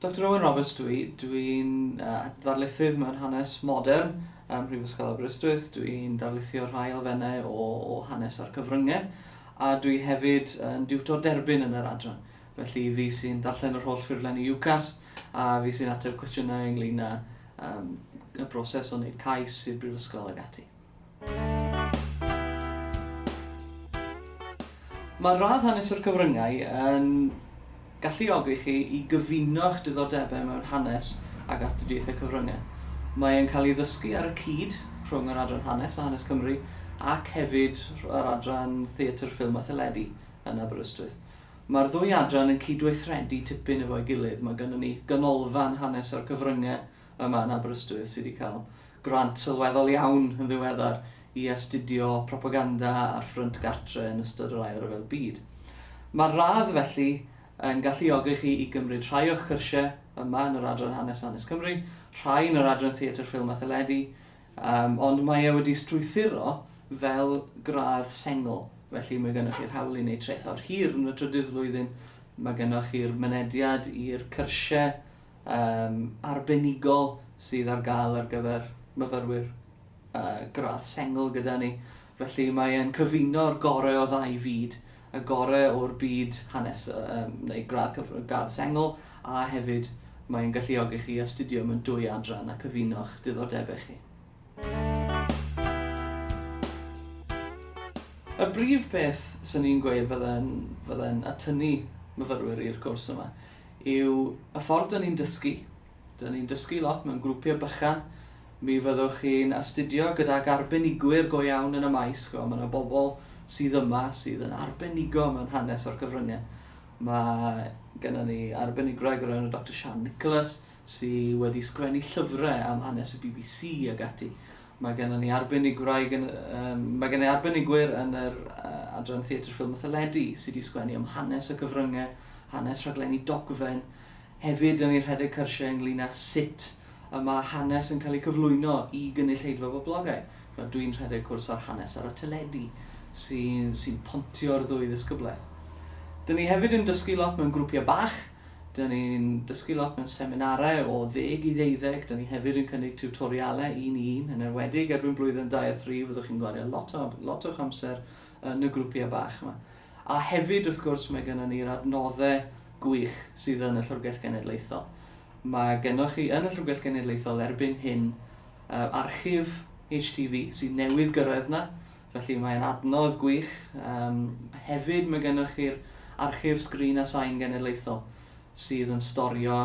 Doctor Owen Roberts dw i. Dw i'n ddarlithydd mewn hanes modern ym Mhrifysgol Aberystwyth. Dw i'n darlithio rhai elfennau o hanes a'r cyfryngau, a dw i hefyd yn diwtor derbyn yn yr adran. Felly, fi sy'n darllen yr holl ffurflen i UCAS, a fi sy'n ateb cwestiynau ynglŷn â y broses o wneud cais i'r brifysgol ac ati. Mae radd hanes o'r cyfryngau yn galluogi chi i gyfuno'ch diddordebau mewn hanes ac astudiaethau cyfryngau. Mae e'n cael ei ddysgu ar y cyd rhwng yr Adran Hanes a Hanes Cymru ac hefyd yr Adran Theatr, Ffilm a Theledu yn Aberystwyth. Mae'r ddwy adran yn cydweithredu tipyn efo'i gilydd. Mae gynnon ni Ganolfan Hanes o'r Cyfryngau yma yn Aberystwyth sydd wedi cael grant sylweddol iawn yn ddiweddar i astudio propaganda ar ffrynt gartre yn ystod yr Ail Ryfel Byd. Mae'r radd, felly, yn galluogi chi i gymryd rhai o'ch cyrsiau yma yn yr adran Hanes Hanes Cymru, rhai yn yr adran Theatr Ffilm a Theledu, um, ond mae e wedi strwythuro fel gradd sengl. Felly mae gennych chi'r hawl i wneud trethawd hir yn y trydydd flwyddyn, mae gennych chi'r mynediad i'r cyrsiau um, arbenigol sydd ar gael ar gyfer myfyrwyr uh, gradd sengl gyda ni. Felly mae e'n cyfuno'r gorau o ddau fyd, y gorau o'r byd hanes um, neu gradd, gradd sengl, a hefyd mae'n galluogi chi astudio mewn dwy adran a cyfuno'ch diddordebau chi. Y brif beth sy'n ni'n gweud fydden, fydden atynnu myfyrwyr i'r cwrs yma yw y ffordd dyn ni'n dysgu. Dyn ni'n dysgu lot mewn grwpiau bychan. Mi fyddwch chi'n astudio gydag arbenigwyr go iawn yn y maes. Mae yna bobl sydd yma sydd yn arbenigo mewn hanes o'r cyfryngau. Mae gennym ni arbenigrwydd o'r enw Doctor Sian Nicholas sydd wedi sgwennu llyfrau am hanes y bbc ac ati. Mae gennym ni arbenigwraig yn, um, mae gennym ni arbenigwyr yn yr uh, adran Theatr Ffilm a Theledu sydd wedi sgwennu am hanes y cyfryngau, hanes rhaglenni dogfen, hefyd yn ei rhedeg cyrsiau ynglyn â sut y mae hanes yn cael ei cyflwyno i gynulleidfa boblogau. Dwi'n rhedeg cwrs ar hanes ar y teledu sy'n sy pontio'r ddwy ddisgyblaeth. Dyn ni hefyd yn dysgu lot mewn grwpiau bach, Dyn ni'n dysgu lot mewn seminarau o ddeg i ddeuddeg, dyn ni hefyd yn cynnig tiwtorialau un i un, yn enwedig erbyn blwyddyn dau a thri fyddwch chi'n gwario lot o, lot o'ch amser yn y grwpiau bach yma. A hefyd, wrth gwrs, mae gennym ni'r adnoddau gwych sydd yn y Llyfrgell Genedlaethol. Mae gennych chi yn y Llyfrgell Genedlaethol erbyn hyn uh, archif HTV sy'n newydd gyrraedd na, Felly mae'n adnodd gwych. Yym, hefyd mae gennych chi'r Archif Sgrin a Sain Genedlaethol sydd yn storio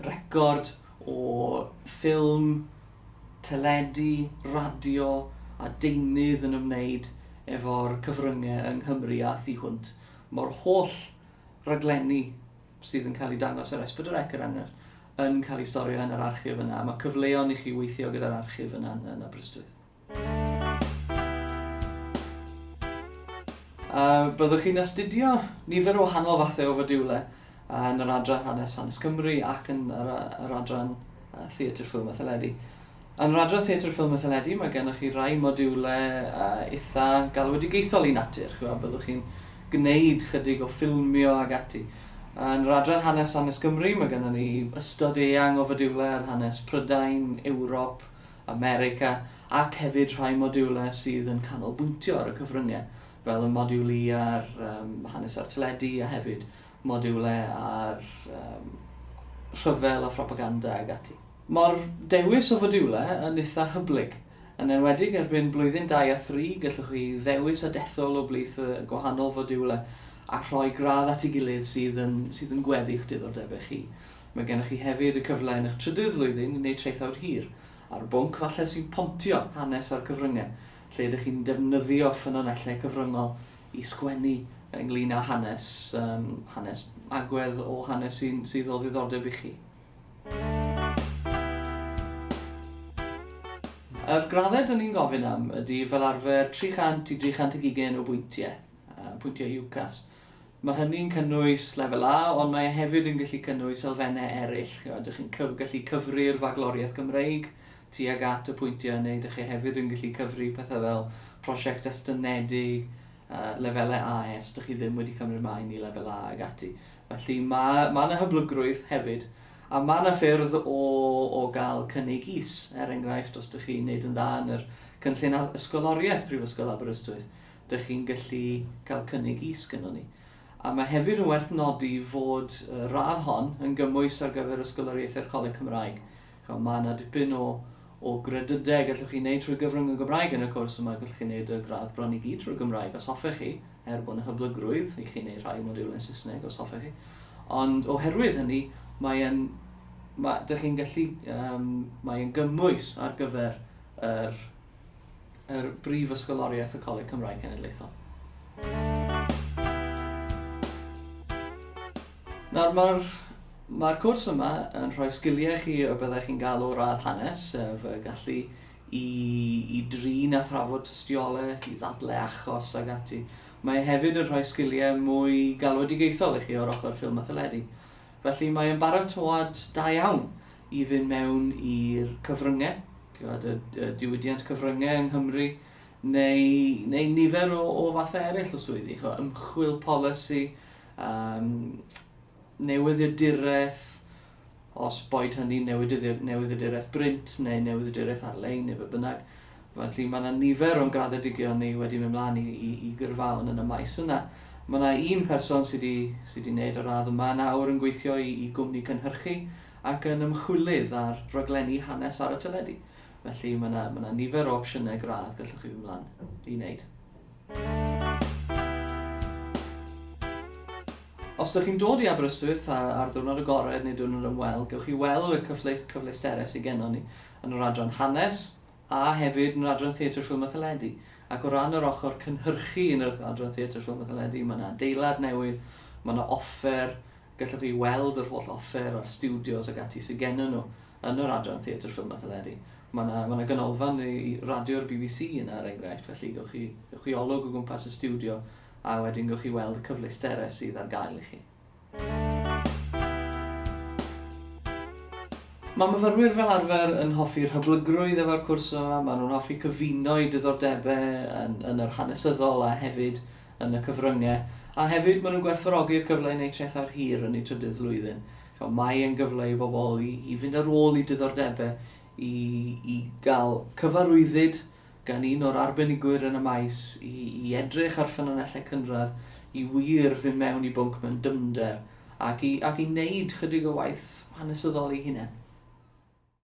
record o ffilm, teledu, radio a deunydd yn ymwneud efo'r cyfryngau yng Nghymru a thu hwnt. Mae'r holl raglenni sydd yn cael eu dangos ar Esbydrec, er enghraifft, yn cael eu storio yn yr archif yna. Mae cyfleon i chi weithio gyda'r archif yna yn Aberystwyth. A byddwch chi'n astudio nifer o wahanol fathau o fodiwle yn yr adran hanes hanes Cymru ac yn yr, yr adran theatr ffilm a theledu. Yn yr adran theatr ffilm a theledu mae gennych chi rai modiwle uh, eitha galwedigaethol i natur. Chwa, byddwch chi'n gwneud chydig o ffilmio ag ati. Yn yr adran hanes hanes Cymru mae gennym ni ystod eang o fodiwle ar hanes Prydain, Ewrop, America, ac hefyd rhai modiwlau sydd yn canolbwyntio ar y cyfryngau, fel y modiwl I ar hanes a'r teledu, a hefyd modiwlau ar rhyfel a phropaganda ag ati. Mae'r dewis o fodiwlau yn eitha' hyblyg. Yn enwedig erbyn blwyddyn dau a thri, gallwch chi ddewis a dethol o blith y gwahanol fodiwlau a rhoi gradd at ei gilydd sydd yn gweddu'ch diddordebau chi. Mae gennych chi hefyd y cyfle yn eich trydydd flwyddyn i wneud traethawd hir, ar bwnc falle sy'n pontio hanes a'r cyfryngau, lle ydych chi'n defnyddio ffynonellau cyfryngol i sgwennu ynglŷn â hanes, um, hanes agwedd o hanes sy'n sydd o ddiddordeb i chi. Yr graddau dyn ni'n gofyn am ydy fel arfer 300 i 320 o bwyntiau, pwyntiau UCAS. Mae hynny'n cynnwys Lefel A, ond mae e hefyd yn gallu cynnwys elfennau eraill, chimod, dych chi'n cyf- gallu cyfri'r Fagloriaeth Gymreig tuag at y pwyntiau neu dych chi hefyd yn gallu cyfri pethau fel prosiect estynedig, yy, lefelau AS dych chi ddim wedi cymryd maen i Lefel A ag ati. Felly mae, mae yna hyblygrwydd hefyd, a mae yna ffyrdd o, o gael cynnig is, er enghraifft, os dych chi'n neud yn dda yn yr cynllun a- ysgoloriaeth Prifysgol Aberystwyth, dych chi'n gallu cael cynnig is gynnon ni. A mae hefyd yn werth nodi fod y radd hon yn gymwys ar gyfer Ysgoloriaethau'r Coleg Cymraeg. Chwa, mae yna dipyn o, o gredydau gallwch chi wneud trwy gyfrwng y Gymraeg yn y cwrs yma, gallwch chi wneud y gradd bron i gyd trwy Gymraeg os hoffech chi, er bod yna hyblygrwydd i chi wneud rhai modiwlau yn Saesneg os hoffech chi. Ond oherwydd hynny, mae'n mae, dych chi'n gallu, um, mae'n gymwys ar gyfer yr yr Brif Ysgoloriaeth y Coleg Cymraeg Cenedlaethol. Nawr mae'r Mae'r cwrs yma yn rhoi sgiliau chi o byddech chi'n gael o'r radd hanes, sef y gallu i, i drin a thrafod tystiolaeth, i ddadle achos ag ati. Mae hefyd yn rhoi sgiliau mwy galwedigaethol i chi o'r ochr ffilm a theledu. Felly mae'n baratoad da iawn i fynd mewn i'r cyfryngau, gwybod, y, y diwydiant cyfryngau yng Nghymru, neu, neu nifer o, o fathau eraill o swyddi, chwa, ymchwil polisi, um, newyddiaduraeth, os boed hynny newyddiaduraeth brint neu newyddiaduraeth ar-lein neu fe bynnag. Felly mae yna nifer o'n graddedigion ni wedi mynd mlaen i, i, i gyrfaon yn y maes yna. Mae yna un person sydd wedi sy wneud y radd yma nawr yn gweithio i, i gwmni cynhyrchu ac yn ymchwilydd ar raglenni hanes ar y teledu. Felly mae yna, mae yna nifer o opsiynau gradd gallwch chi fynd mlaen i wneud. Os ydych chi'n dod i Aberystwyth ar ddiwrnod agored neu diwrnod ymweld, gewch chi weld y cyfle, cyfleusterau sydd gennon ni yn yr adran hanes a hefyd yn yr adran theatr ffilm a theledu. Ac o ran yr ochr cynhyrchu yn yr adran theatr ffilm a theledu, mae yna adeilad newydd, mae yna offer Gallwch chi weld yr holl offer a'r stiwdios ac ati sydd gennym nhw yn yr adran Theatr Ffilm a Theleri. Mae yna, mae yna ganolfan i radio'r bbc yna er enghraifft, felly gewch chi, gewch chi olwg o gwmpas y stiwdio a wedyn gewch chi weld y cyfleusterau sydd ar gael i chi. Mae myfyrwyr fel arfer yn hoffi'r hyblygrwydd efo'r cwrs yma, maen nhw'n hoffi cyfuno'u diddordebau yn, yn yr hanesyddol a hefyd yn y cyfryngau, a hefyd maen nhw'n gwerthfawrogi'r cyfle i wneud trethau'r hir yn eu trydydd flwyddyn. So, mae e'n gyfle i bobl i, i fynd ar ôl i diddordebau, i, i gael cyfarwyddyd gan un o'r arbenigwyr yn y maes, i, i edrych ar ffynonellau cynradd, i wir fynd mewn i bwnc mewn dyfnder, ac i, ac i wneud chydig o waith hanesyddol ei hunain.